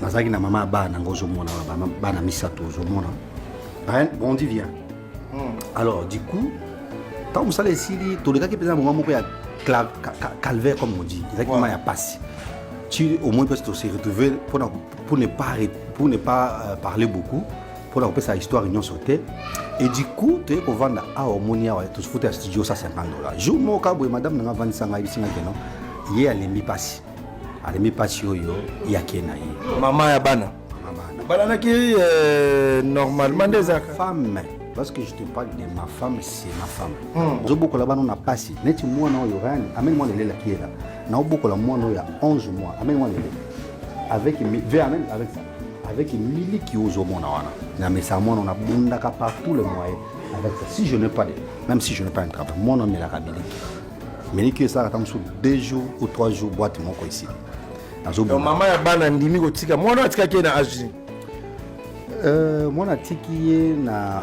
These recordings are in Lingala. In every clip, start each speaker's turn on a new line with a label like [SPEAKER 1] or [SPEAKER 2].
[SPEAKER 1] nazalaki na mama ya bana nanga ozomona bana misato ozomona bondi via hmm. alors du coup ntango mosala esili tolekaki mpenza moma moko ya calvaire comme on dit ezalaki moma ya mpasi ti au moins mpasi tose retrouve mpona pour ne pas, pour ne pas euh, parler beaucoup mpona kopesa histoire nyonso te et du coup toye kovanda awa omoni awa tofuta ya studio 150 dollars jour moko boye madame nanga avandisa ngai bisinga keno ye alembi mpasi alemi mpasi oyo yake na ye mama ya bana
[SPEAKER 2] balanaki euh, normalement nde ezaka femme parce
[SPEAKER 1] que je te parle de ma femme c'est ma femme hmm. ozobokola bana na mpasi neti mwana oyo rani ameni mwana elelaki yela naobokola mwana oyo ya 11 mois ameni mwana elele avec ve amen avec ça avec miliki ozomona wana na mesa mwana nabundaka par tout le moyen avec ça si je n'ai pas de même si je n'ai pas un travail mwana amelaka miliki Miniki esalaka ntango mosusu deux jours ou trois jours boite moko esili mama
[SPEAKER 2] ya bana andimi kotika mwana oyo atikaki ye na age
[SPEAKER 1] euh, mwana atiki ye na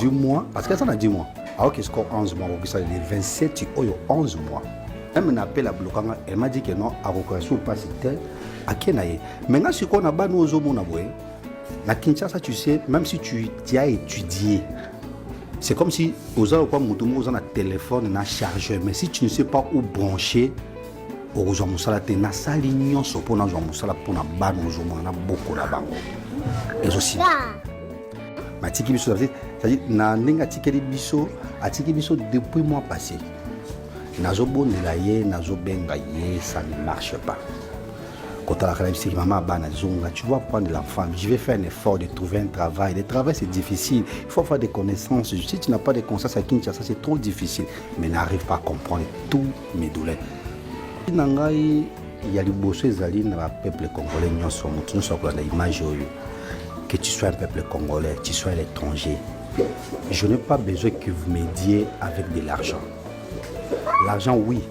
[SPEAKER 1] du mois parce que aza na du mois aoki score 11 mois akokisa le 27 oyo 11 mois meme na appel ablokanga elle m'a dit que non akokoya sur mpasi te ake na ye mai nga sikoyo na bana oyo ozomona boye Na Kinshasa, tu sais, même si tu, tu as étudié, c'est comme si oza lokwa moto moko oza na telefone na chargeur mais si tu ne sais pas où brancher okozwa mosala te nasali nyonso mpo nazwa mosala mpo na bana ozomona na boko na bango ezosila matiki biso cetadire na ndenge atikeli biso atiki biso depuis mois passé nazobondela ye nazobenga ye ça ne marche pas kotalaka na bisiki mama bana zonga tu vois prendre la femme je vais faire un effort de trouver un travail le travail c'est difficile il faut avoir des connaissances si tu n'as pas de connaissances à Kinshasa c'est trop difficile mais n'arrive pas à comprendre tous mes douleurs na ngai ya liboso ezali na bapeuple congolais nyonso moto nyonso akolanda image oyo que tu sois un peuple congolais tu sois à l'étranger je n'ai pas besoin que vous m'aidiez avec de l'argent l'argent oui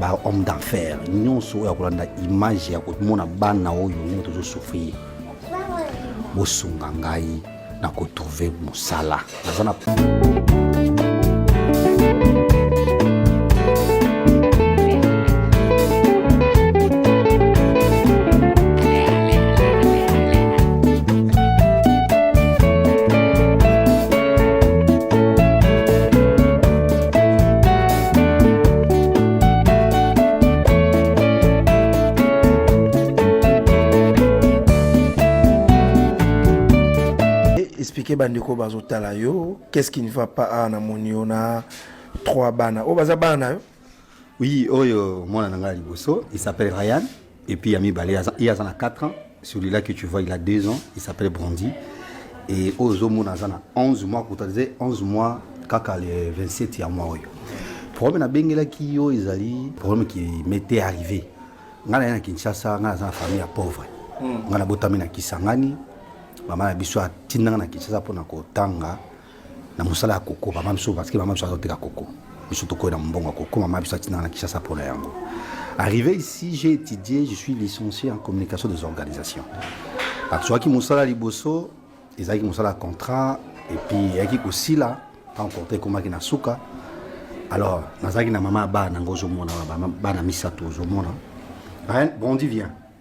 [SPEAKER 1] ba homme d'enfer nyonso oyo akolanda image ya komona bana oyo ndenge tozosouffrir bosunga ngai na kotrouve mosala naza na
[SPEAKER 2] expliquer bandeko bazotala yo qu'est-ce qui ne va pas awa na moni yo na trois bana oyo baza bana na yo oui oyo
[SPEAKER 1] mwana na ngai ya liboso il s'appelle ryan Et puis ya mibale ye aza na 4 ans celui-là que tu vois il a 2 ans il s'appelle Brandy et oyo ozomona aza na 11 mois kuta ze 11 mois kaka le 27 ya mois oyo problème nabengelaki yo ezali problème qui m'était arrivé ngai naye na kinshasa ngai naza na famille ya pauvre hmm. ngai nabotami na kisangani mama na biso atindanga na kinshasa mpona kotanga na mosala ya koko mama biso parce que mama biso azoteka koko biso tokoyi na mbongo ya koko mama biso atinaka na kinshasa mpo na yango arrivé ici j'ai étudié je suis licencié en communication des organisations azwaki mosala liboso ezalaki mosala ya contrat epuis eyaki kosila ntango contrat ekomaki na suka alors nazalaki na mama ya bana yango ozomona bana misato ozomona brandi vient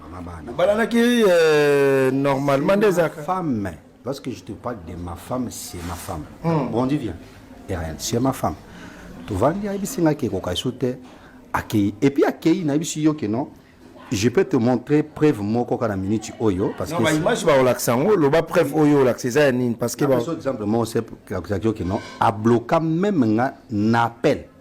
[SPEAKER 1] mama
[SPEAKER 2] bana bobalanaki euh, normalement nde ezalaka femme
[SPEAKER 1] lorsque je te parle de ma femme c'est ma femme hmm. bon dit bien rien c'est ma femme tovandi ayebisi ngai ke ekoka esu te akei epuis akei nayebisi yo ke non je peux te montrer preuve moko kaka na minute oyo parce que image baolakisa
[SPEAKER 2] yango loba preuve oyo olakisa eza ya nini parce que exemple moko se
[SPEAKER 1] akisaki yo ke non abloka meme nga na appel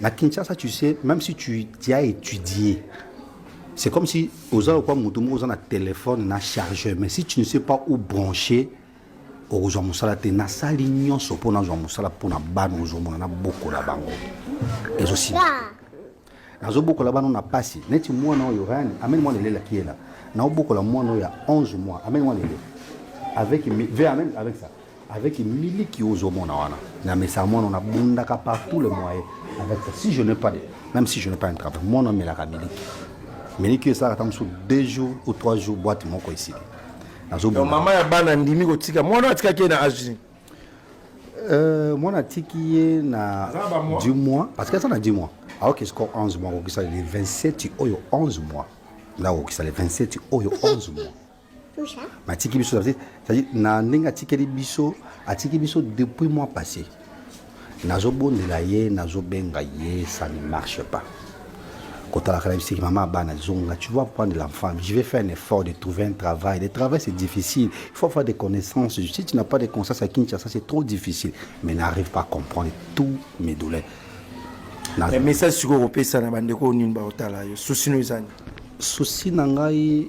[SPEAKER 1] Na Kinshasa, tu sais, même si tu, tu as étudié, c'est comme si oza lokwa moto moko oza na téléphone na chargeur, mais si tu ne sais pas où brancher, okozwa mosala te. Nasali nyonso mpo nazwa mosala mpo na bana ozomona nabokola bango ezosila nazobokola bana na pasi neti mwana oyo rani amene mwana elelaki yela naobokola mwana oyo ya 11 mois amene mwana elele avec, avec ça avec miliki ozomona wana na mesa mwana na bundaka par tous les moyens avec ça si je n'ai pas de, même si je n'ai pas un travail mwana amelaka miliki miliki oyo esalaka ntango mosusu deux jours ou trois jours boite moko esili nazobona mama ya bana
[SPEAKER 2] ndimi kotika mwana atikaki ye na age Euh,
[SPEAKER 1] mwana atiki ye na du mois parce que aza na du mois aoki siko 11 mois akokisa le 27 oyo 11 mois nda akokisa le 27 oyo 11 mois matiki biso na ndenge atikeli biso atiki biso depuis mois passé nazobondela ye nazobenga ye ça ne marche pas kotalaka na biseki mama bana zonga tu vois prendre l'enfant je vais faire un effort de trouver un travail le travail c'est difficile il faut avoir des connaissances si tu n'as pas de connaissances à Kinshasa c'est trop difficile mais n'arrive pas à comprendre tous mes douleurs
[SPEAKER 2] message sikoyo kopesa na bandeko nini baotala yo susi no ezani susi na
[SPEAKER 1] ngai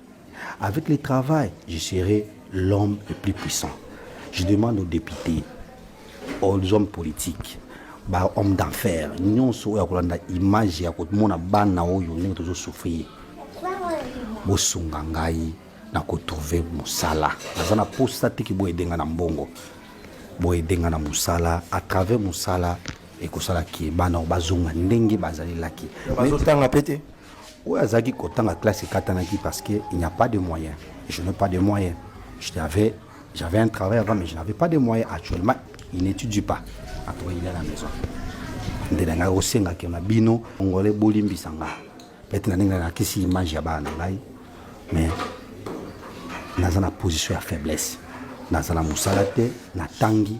[SPEAKER 1] Avec le travail, je serai l'homme le plus puissant. Je demande aux députés, aux hommes politiques, ba homme d'enfer nyonso oyo akolanda image ya komona bana oyo ndenge tozosouffrir bosunga ngai na kotrouve mosala naza na posa te ki boyede ngai na mbongo boyede ngai na mosala à travers mosala ekosala ke bana oyo bazonga ndenge bazalelaki bazotanga pe te
[SPEAKER 2] oyo azalaki
[SPEAKER 1] kotanga classe ekatanaki parce que il n'y a pas de moyen je n'ai pas de moyen j'avais j'avais un travail avant mais je n'avais pas de moyen actuellement il n'étudie pas après il est à la maison nde na ngai osengaki na bino ngole bolimbisa ngai pete na ndenge nalakisi image ya bana na ngai mais naza na position ya faiblesse naza na mosala te natangi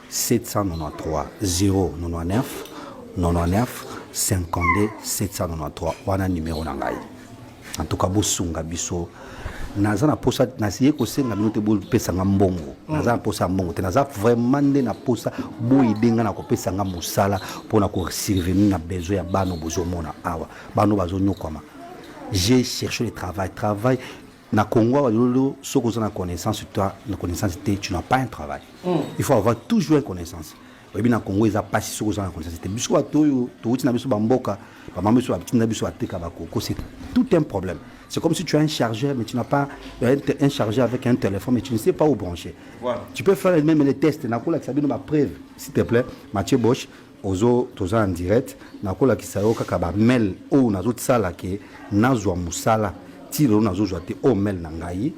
[SPEAKER 1] 793 wana numero na ngai en tout cas bosunga biso naza na posa naye kosenga bino te bopesa nga mbongo mm. naza na posa ya mbongo te naza vraiment nde na posa boyede nga na kopesa nga mosala mpo na kosurvenir na besoin ya bana bozomona awa bana bazonyokwama j'ai cherché le travail travail Na Congo awa lelo soki oza na connaissance sur toi na connaissance te tu n'as pas un travail. Mm. Il faut avoir toujours une connaissance. oyebi na congo eza mpasi soki oza na connaissance te biso bato oyo towuti na biso bamboka bamama biso batinda biso bateka bakoko c'est tout un problème c'est comme si tu as un chargeur mais tu n'as pas euh, un, un chargeur avec un téléphone mais tu ne sais pas où brancher voilà. tu peux faire même les tests nakolakisa bino bapreuve s'il te plaît mathieu bosch ozo toza en direct nakolakisa yo kaka bamail oyo nazosala ke nazwa mosala ti lelo nazozwa te oyo mail na ngai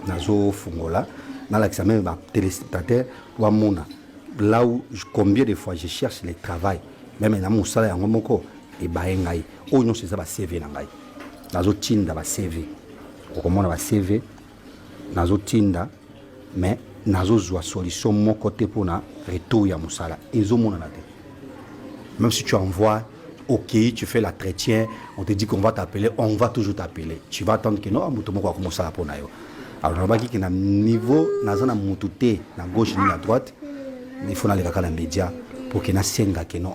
[SPEAKER 1] nazofungola nalakisa meme batelespectateur bamona là où combien de fois je cherche le travail meme na mosala yango moko ebaye ngai oyo nyonso eza bacv na ngai nazotinda bacv okomona bacv nazotinda mais nazozwa solution moko te mpo na retour ya mosala ezomonana te même si tu envoies ok tu fais la chrétien on te dit qu'on va t'appeler on va toujours t'appeler tu vas attendre que non moto moko akomosala mpo na yo alors nalobaki ke na niveau naza na motu te na gauche ni na droite il faut nalekaka na média mpo ke nasenga ke non